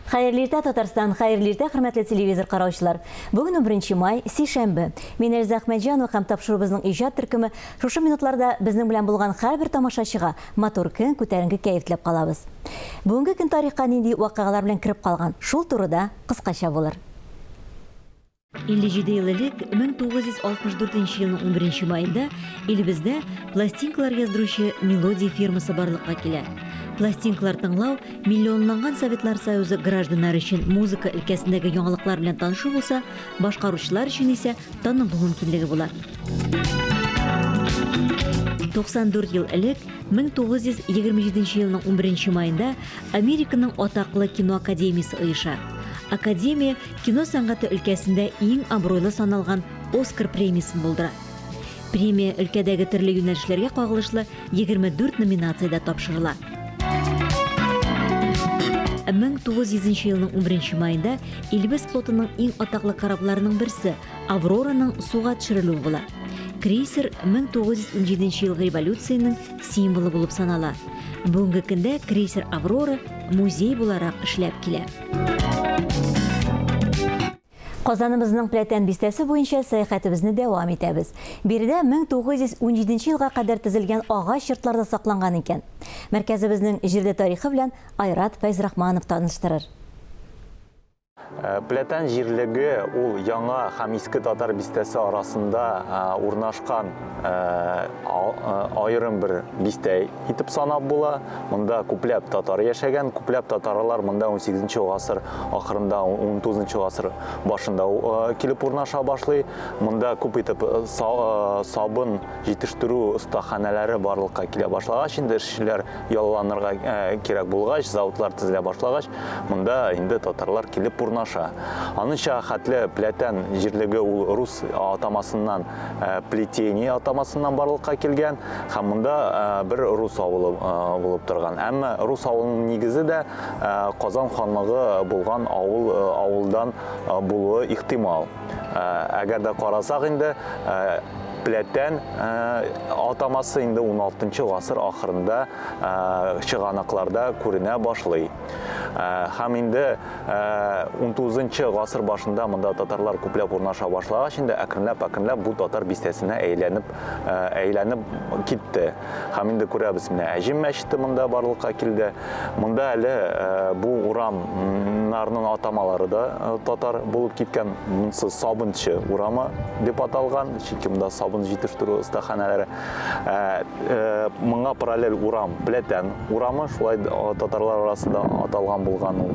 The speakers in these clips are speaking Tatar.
Хәерле иртә, Татарстан! Хәерле иртә, хөрмәтле телевизор караучылар! Бүген 11 май, сишәмбе. Мин Эльза Әхмәтҗанова һәм тапшыруыбызның иҗат төркеме шушы минутларда безнең белән булган һәрбер тамашачыга матур көн, күтәренке кәеф теләп калабыз. Бүгенге көн тарихка нинди вакыйгалар белән кереп калган, шул турыда кыскача булыр. 57 ел элек 1964 елның 11 маенда илебездә пластинкалар яздыручы мелодия фирмасы барлыкка килә. Пластинкалар тыңлау миллионланган Советлар Союзы гражданнары өчен музыка өлкәсендәге яңалыклар белән танышу булса, башкаручылар өчен исә танылу мөмкинлеге була. 94 ел элек 1927 елның 11 маенда Американың атаклы кино академиясе оеша. Академия Кино сәнгате өлкәсендә иң абруйлы саналган Оскар премиясен булдыра. Премия өлкәдәге төрле юнәлешләргә кагылышлы 24 номинациядә тапшырыла. 1900 елның 11 маенда Илбез флотының иң атаклы корабларының берсе Аврораның суга төшерелүе була. Крейсер 1917 ел революцияның символы булып санала. Бүгенге көндә крейсер Аврора музей буларак эшләп килә. Казаныбызның Пләтән бистәсе буенча сәяхәтебезне дәвам итәбез. Биредә 1917 елга кадәр тезелгән агач йортларда сакланган икән. Мәркәзебезнең җирле тарихы белән Айрат Фәйзрахманов таныштырыр. Пләтән җирлеге ул Яңа һәм Иске Татар бистәсе арасында урнашкан аерым бер бистә. итеп санап була. Монда күпләп татар яшәгән, күпләп татарлар монда 18 гасыр ахырында, 19 гасыр башында э, килеп урнаша башлый. Монда күп итеп э, э, сабын җитештерү остаханәләре барлыкка килә башлагач, инде эшчеләр ялланырга кирәк булгач, заводлар төзелә башлагач, монда инде татарлар килеп урнаша. Аныңча хәтле пләтән җирлеге ул рус атамасыннан плетение атамасыннан барлыкка килгән һәм монда бер рус авылы булып торган. Әмма рус авылының нигезе дә Казан ханлыгы булган авыл авылдан булуы ихтимал. Әгәр дә карасак инде пләтән атамасы инде 16 гасыр ахырында чыганакларда күренә башлый. Һәм инде 19-нчы гасыр башында монда татарлар күпләп урнаша башлагач, инде әкренләп-әкренләп бу татар бистәсенә әйләнеп әйләнеп китте. Һәм инде күрәбез, менә Әҗим мәчете монда барлыкка килде. Монда әле бу урамнарның атамалары да татар булып киткән. Монсы Сабынчы урамы дип аталган, чөнки монда сабын җитештерү остаханәләре. Ә э, моңа параллель урам, Пләтән урамы, шулай татарлар арасында аталган булган ул.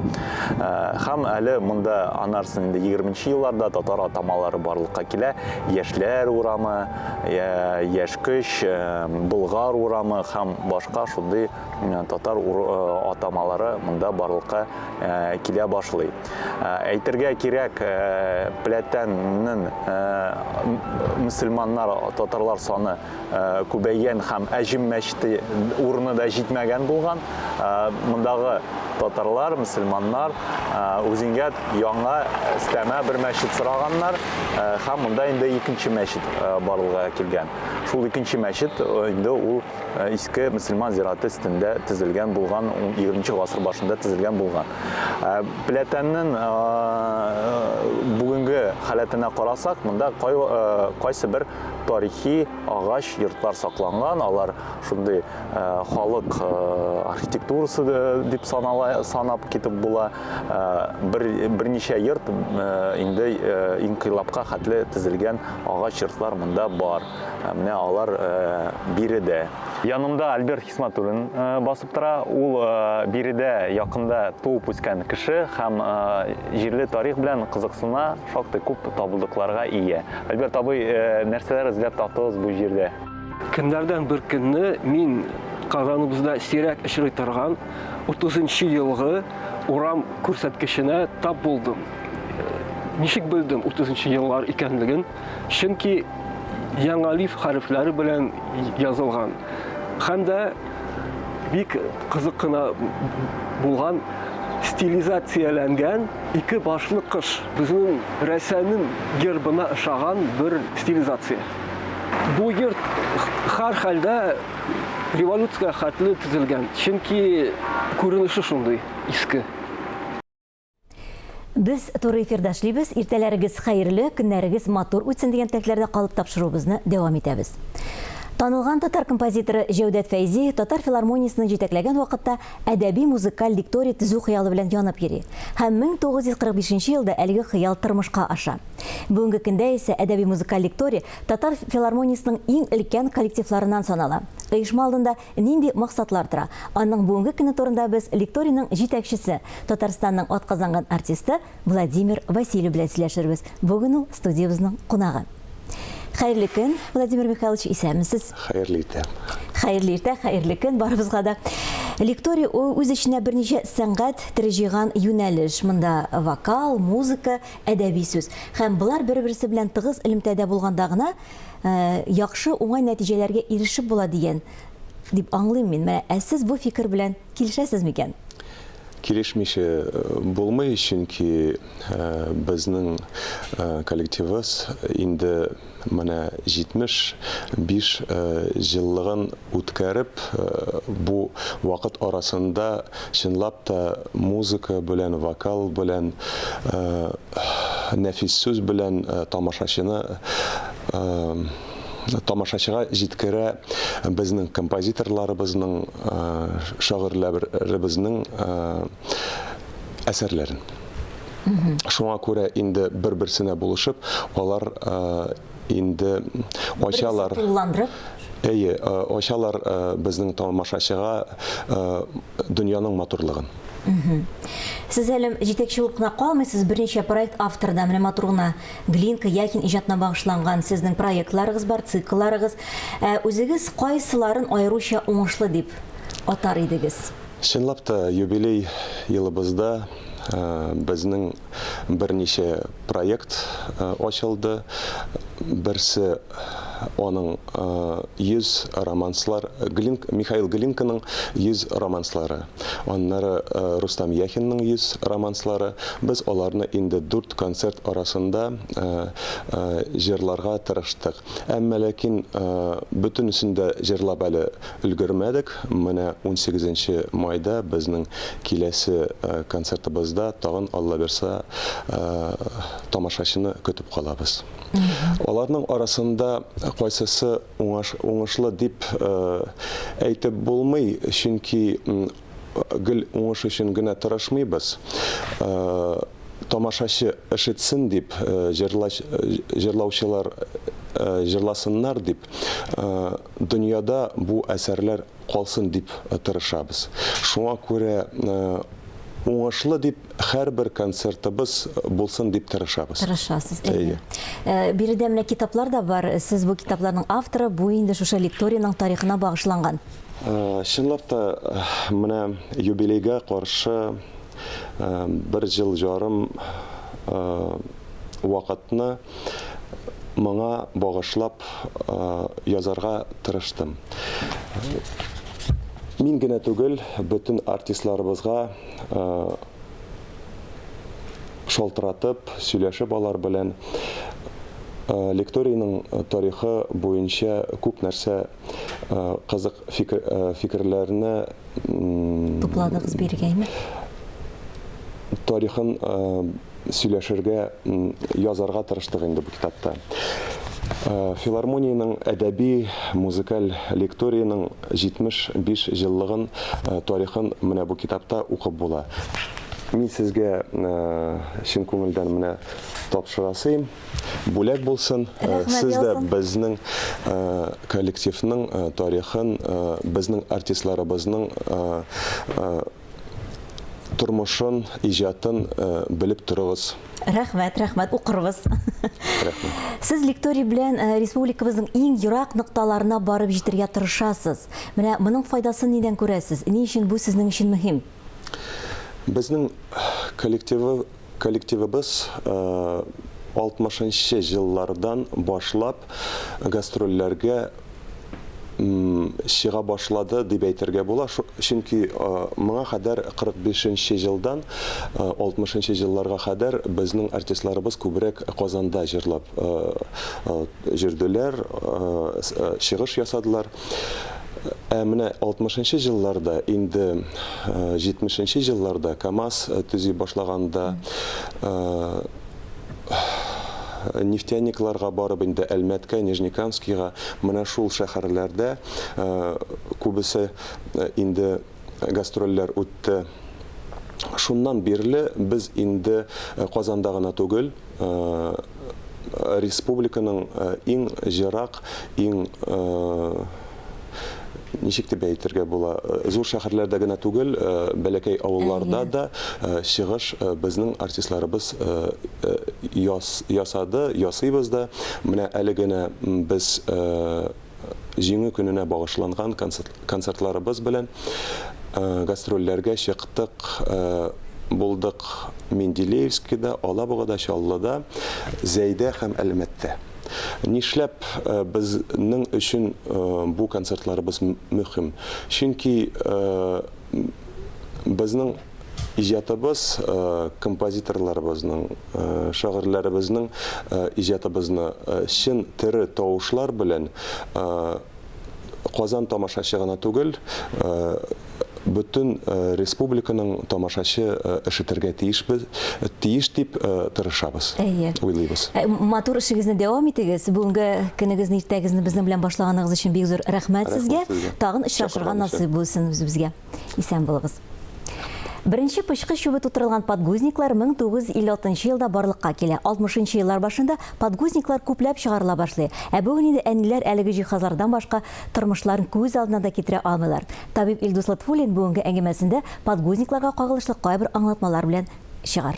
Ә, һәм әле монда анарсын инде 20 елларда татар атамалары барлыкка килә. Яшьләр урамы, яшь көч, болгар урамы һәм башка шундый э, татар э, атамалары монда барлыкка э, килә башлый. Әйтергә кирәк, Пләтәннең мөселманнар, татарлар саны күбәйгән һәм Әҗим мәчете урыны да җитмәгән булган. Мондагы татарлар, мөселманнар үзеңгә яңа өстәмә бер мәчет сораганнар һәм монда инде икенче мәчет барлыгы килгән. Шул икенче мәчет инде ул Э, иске мөселман зираты өстендә төзелгән булган 20 гасыр башында төзелгән булган э, пләтәннең э, бүгенге халәтенә карасак монда кайсы бер тарихи агач йортлар сакланган алар шундый халык архитектурасы дип санала санап китеп була бер берничә йорт инде инкыйлабка хәтле төзелгән агач йортлар монда бар Ә менә алар биредә. Янымда Альберт Хисматуллин басып тора. Ул биредә якында туып үскән кеше һәм җирле тарих белән кызыксына, шактый күп табылдыкларга ия. Альберт абый, нәрсәләр эзләп таптыгыз бу җирдә? Көннәрдән бер көнне мин Казаныбызда сирәк очрый торган 30 нчы елгы урам күрсәткеченә тап булдым. Ничек белдем 30 нчы еллар икәнлеген? чөнки яңа лиф хәрефләре белән язылган. Һәм дә бик кызык кына булган стилизацияләнгән ике башлы кыш. Безнең рәсәнең гербына ошаган бер стилизация. Бу йорт һәр хәлдә революциягә хәтле төзелгән, чөнки күренеше шундый, иске. Без туры эфирда эшлибез. Иртәләрегез хәерле, көннәрегез матур үтсен дигән теләкләрдә калып тапшыруыбызны дәвам итәбез. Танылган татар композиторы Җәүдәт Фәйзи татар филармониясенең җитәкләгән вакытта әдәби музыкаль дикторий төзү хыялы белән янып йөри. Һәм 1945 елда әлеге хыял тормышка аша. Бүгенге көндә исә әдәби музыкаль дикторий татар филармониясенең иң өлкән коллективларыннан санала. Оешма алдында Нинди максатлар тора? Аның бүгенге көне турында без лекторийның җитәкчесе, Татарстанның атказанган артисты Владимир Васильев белән сөйләшербез. Бүген ул студиябезнең кунагы. Хәерле көн, Владимир Михайлович, исәнмесез? Хәерле иртә. Хәерле иртә, хәерле көн барыбызга да. Лекторий ул үз эченә берничә сәнгать төре җыйган юнәлеш. Монда вокал, музыка, әдәби сүз. Һәм болар бер-берсе белән тыгыз элемтәдә булганда гына яхшы, уңай нәтиҗәләргә ирешеп була дигән дип аңлыйм мин. Менә, ә сез бу фикер белән килешәсез микән? Килешмичә булмый, чөнки безнең коллективыбыз инде менә 75 җыллыгын үткәреп, бу вакыт арасында чынлап та музыка белән, вокал белән нәфис сүз белән тамашачыны тамашачыга җиткерә безнең композиторларыбызның, шагыйрьләребезнең әсәрләрен. Шуңа күрә инде бер-берсенә булышып, алар инде ачалар. Берсе тулыландырып. Әйе, э, ачалар э, безнең тамашачыга э, дөньяның матурлыгын. Сез әле җитәкче булып кына калмыйсыз, берничә проект авторы да менә матур гына Глинка Якин иҗатына багышланган сезнең проектларыгыз бар, циклларыгыз. Ә үзегез кайсыларын аеруча уңышлы дип атар идегез? Чынлап та юбилей елыбызда э, безнең берничә проект ачылды. Берсе аның 100 романслар, Михаил Глинканың 100 романслары. Аннары Рустам Яхинның 100 романслары. Без аларны инде дүрт концерт арасында җырларга тырыштык. Әмма ләкин бөтенесен дә җырлап әле өлгермәдек. Менә унсигезенче майда безнең киләсе концертыбызда тагын, Аллабирса, тамашачыны көтеп калабыз. Аларның арасында кайсысы уңыш, уңышлы дип әйтеп булмый, чөнки гел уңыш өчен генә тырышмыйбыз, тамашачы ышетсен дип, җырлаучылар җырласыннар дип, дөньяда бу әсәрләр калсын дип тырышабыз. Шуңа күрә уңышлы дип Хәрбер концертыбыз булсын дип тырышабыз. Тырышасыз, әйе. Э, биредә менә китаплар да бар. Сез бу китапларның авторы, бу инде шушы лекториянең тарихына багышланган. Э, чынлап та э, менә юбилейга каршы бер ел ярым вакытны моңа багышлап язарга тырыштым. Мин генә түгел, бөтен артистларыбызга шалтыратып, сөйләшеп алар белән лекторийның тарихы буенча күп нәрсә кызык фикерләрне тупладыгыз биргәйме? Тарихын сөйләшергә, язарга тырыштык инде бу китапта. Филармониянең әдәби музыкаль лекториянең 75 җыллыгын, тарихын менә бу китапта укып була. Мин сезгә чын күңелдән менә тапшырасыйм. Бүләк булсын. Сез дә безнең коллективның тарихын, безнең артистларыбызның тормышын, иҗатын белеп торыгыз. Рәхмәт, рәхмәт, укырбыз. Рәхмәт. Сез лекторий белән э, республикабызның иң ерак нокталарына барып җитергә тырышасыз. Менә моның файдасын нидән күрәсез? Ни өчен бу сезнең өчен мөһим? Безнең коллективы, Коллективыбыз 60 нчы еллардан башлап гастрольләргә чыга башлады дип әйтергә була, чөнки моңа кадәр 45 нче елдан 60 нчы елларга кадәр безнең артистларыбыз күбрәк Казанда җырлап җөрделәр, чыгыш ясадылар. Ә менә 60 нчы җылларда, инде 70 нче җылларда КАМАЗ төзи башлаганда, нефтяникларга барып инде Әлмәткә, Нижнекамскига, менә шул шәһәрләрдә күбесе инде гастрольләр үтте. Шуннан бирле без инде Казанда гына түгел, республиканың иң ерак, иң ничек дип әйтергә була, э, зур шәһәрләрдә генә түгел, э, бәләкәй авылларда да э, чыгыш безнең артистларыбыз ясады, ясыйбыз да. Менә әле генә без Җиңү көненә багышланган концертларыбыз белән гастрольләргә чыктык. Булдык Менделеевскида, Алабугада, Чаллыда, Зәйдә һәм Әлмәттә. Нишләп безнең өчен бу концертларыбыз мөһим? Чөнки безнең иҗатыбыз э, композиторларыбызның э, шагыйрьләребезнең э, иҗатыбызны чын тере тавышлар белән казан тамашачы гына түгел бөтен республиканың тамашачы ишетергә тиешбез тиеш дип тырышабыз әйе уйлыйбыз ә, матур эшегезне дәвам итегез бүгенге көнегезне иртәгезне безнең белән башлаганыгыз өчен бик зур рәхмәт сезгә тагын очрашырга насыйп булсын үзебезгә Исән булыгыз. Беренче пычкы чүбе тутырылган подгузниклар 1956 елда барлыкка килә. 60 еллар башында подгузниклар күпләп чыгарыла башлый. Ә бүген инде әниләр әлеге җиһазлардан башка тормышларын күз алдына да китерә алмыйлар. Табиб Илдус Лотфуллин бүгенге әңгәмәсендә подгузникларга кагылышлы кайбер аңлатмалар белән чыгар.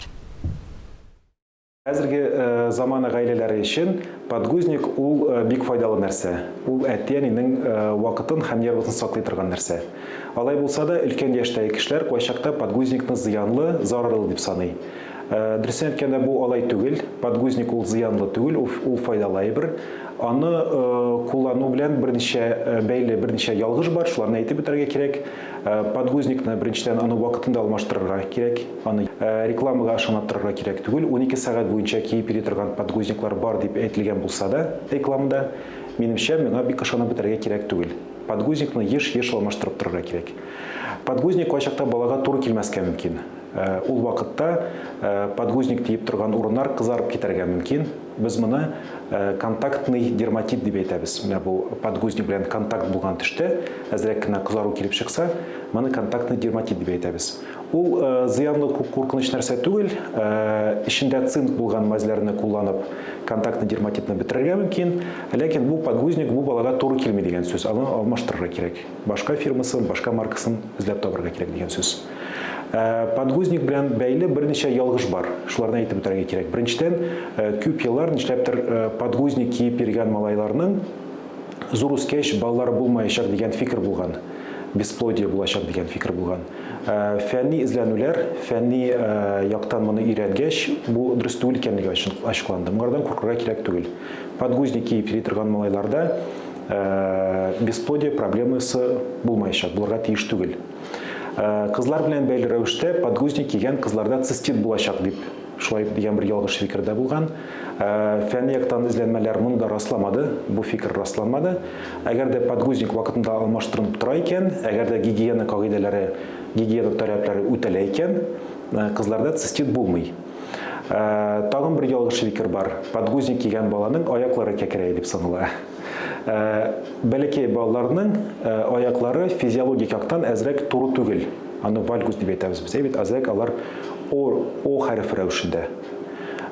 Хәзерге заманы гаиләләре өчен подгузник ул бик файдалы нәрсә. Ул әти-әнинең вакытын һәм нервысын саклый торган нәрсә. Алай булса да, өлкән яшьтәге кешеләр кайчакта подгузникны зыянлы, зарарлы дип саный. Дөресен әйткәндә, бу алай түгел. Подгузник ул зыянлы түгел, ул файдалы әйбер. Аны куллану белән берничә бәйле, берничә ялгыш бар, шуларны әйтеп үтәргә кирәк. Подгузникны беренчедән аны вакытында алмаштырырга кирәк. Аны рекламага ышанаттырырга кирәк түгел, унике сәгать буенча киеп йөри торган подгузниклар бар дип әйтелгән булса да рекламада, минемчә, миңа бик ышанып бетәргә кирәк түгел. Подгузникны еш-еш алмаштырып торырга кирәк. Подгузник кайчакта балага туры килмәскә мөмкин. Ул вакытта подгузник диеп торган урыннар кызарып китәргә мөмкин. Без моны контактный дерматит дип әйтәбез. Менә бу подгузник белән контакт булган төштә әзрәк кенә кызару килеп чыкса, моны контактный дерматит дип әйтәбез. Ул зыянлы күп куркыныч нәрсә түгел, эчендә цинк булган мазьләрне кулланып, контактный дерматитны бетерергә мөмкин, ләкин бу подгузник бу балага туры килми дигән сүз, аны алмаштырырга кирәк. Башка фирмасын, башка маркасын эзләп табарга кирәк дигән сүз. Подгузник белән бәйле берничә ялгыш бар. Шуларны әйтеп үтәргә кирәк. Беренчедән, күп еллар нишләптер подгузник киеп йөргән малайларның зур үскәч балалары булмаячак дигән фикер булган. бесплодие булачак дигән фикер булган. Ә, фәнни эзләнүләр, фәнни ә, яктан моны өйрәнгәч, бу дөрес түгел икәнлеге ачыкланды. Моңардан куркырга кирәк түгел. Подгузник киеп йөри торган малайларда ә, бесплодие проблемасы булмаячак, булырга тиеш түгел. Ә, кызлар белән бәйле рәвештә подгузник кигән кызларда цистит булачак дип, шулай дигән бер ялгыш фикер дә булган. Фәнни яктан эзләнмәләр моны да расламады, бу фикер расламады. Әгәр дә подгузник вакытында алмаштырынып тора икән, әгәр дә гигиена кагыйдәләре, гигиена таләпләре үтәлә икән, кызларда цистит булмый. Тагын бер ялгыш фикер бар, подгузник кигән баланың аяклары кәкрәя дип санала. Бәләкәй балаларның аяклары физиологик яктан әзрәк туры түгел, аны вальгус дип әйтәбез без, әйе бит, әзрәк алар О хәрефе рәвешендә.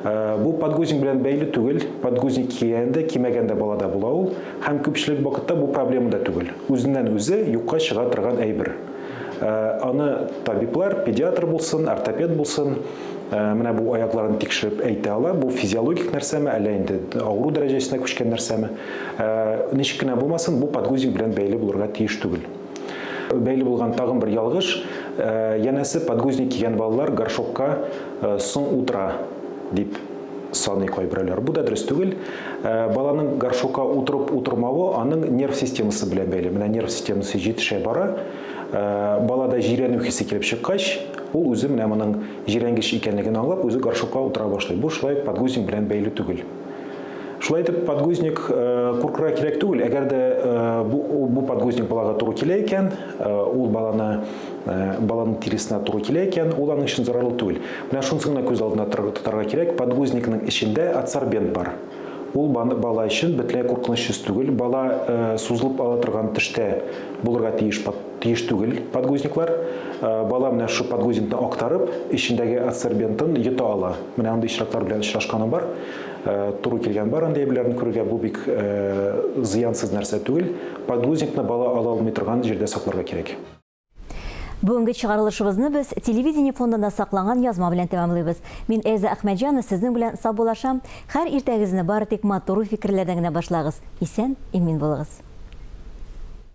Э, бу подгузник белән бәйле түгел, подгузник кигәндә, кимәгәндә балада була ул, һәм күпчелек вакытта бу проблема да түгел. Үзеннән үзе юкка чыга торган әйбер. Э, аны табиблар, педиатр булсын, ортопед булсын, э, менә бу аякларын тикшереп әйтә ала, бу физиологик нәрсәме, әллә инде авыру дәрәҗәсенә күчкән нәрсәме. Ничек кенә булмасын, бу подгузник белән бәйле булырга тиеш түгел. Бәйле булган тагын бер ялгыш, янәсе подгузник кигән балалар горшокка соң утыра, дип саный кайберәүләр. Бу да дөрес түгел. Баланың горшокка утырып-утырмавы аның нерв системасы белән бәйле. Менә нерв системасы җитешә бара, балада җирәнү хисе килеп чыккач, ул үзе менә моның җирәнгеч икәнлеген аңлап, үзе горшокка утыра башлый. Бу шулай ук подгузник белән бәйле түгел. Шулай итеп, подгузник куркырга кирәк түгел. Әгәр дә бу, бу подгузник балага туры килә икән, ул баланы баланың тиресенә туры килә икән, ул аның өчен зарарлы түгел. Менә шунысын гына күз алдына тотарга кирәк, подгузникның эчендә адсорбент бар. Ул бала өчен бөтенләй куркынычсыз түгел. Бала сузылып ала торган төштә булырга тиеш Тиеш түгел подгузниклар. Бала менә шул подгузникны актарып, эчендәге адсорбентын йота ала. Менә андый очраклар белән очрашканым бар. Туры килгән бар андый әйберләрне күрергә. Бу бик зыянсыз нәрсә түгел. Подгузникны бала ала алмый торган җирдә сакларга кирәк. Бүгенге чыгарылышыбызны без телевидение фондында сакланган язма белән тәмамлыйбыз. Мин Эльза Әхмәтҗанова сезнең белән саубуллашам. Хәр иртәгезне бары тик матур уй-фикерләрдән генә башлагыз. Исән, имин булыгыз.